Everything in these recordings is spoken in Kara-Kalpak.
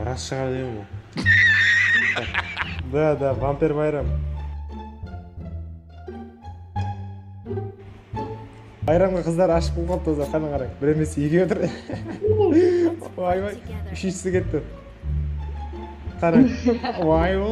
Ras shıǵar degen bul. Da da vamper bayram. Bayramǵa qızdar ashıq bolıp qalıptı ozar qáne qarań bir emes ekeui tur oybay úshinshisi ketti qarań oy o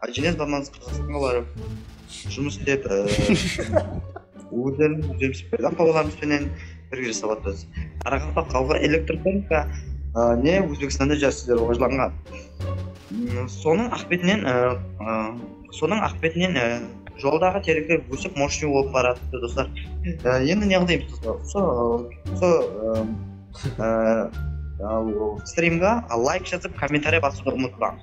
Ájelen zamanısı qırǵız balaları jumıs istep, ózlerimiz územiz payda balalarımız penen birge jasap atırız. Qaraqalpaq xalqı elektrotonika ne Ózbekstanda jas sizler rawajlanǵan. Sonıń aqıbetinen sonıń aqıbetinen joldaǵı terekler ósip moshniy bolıp baratırdı doslar. Endi ne qılayımız doslar usı usı strimǵa layk jazıp kommentariya basıwdı umıtpańız.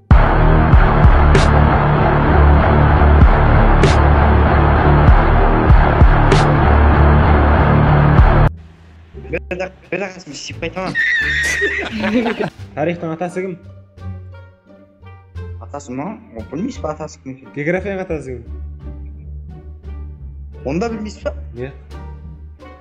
Tariyxtıń atası kim? Atası ma? Ol bilmeysiz ba atası kim eken? Geografiyanıń atası kim? Onıda bilmeysiz ba? Iya.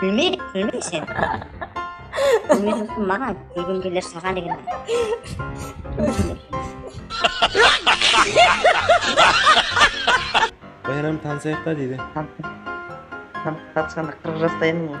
Kúlmeydi, kúlme sen. Kúlmeydi maǵan, kúlgim keler saǵan degen. Bayram tanısayıq ta deydi. Tanısqanda qırıq jastayın ǵoy.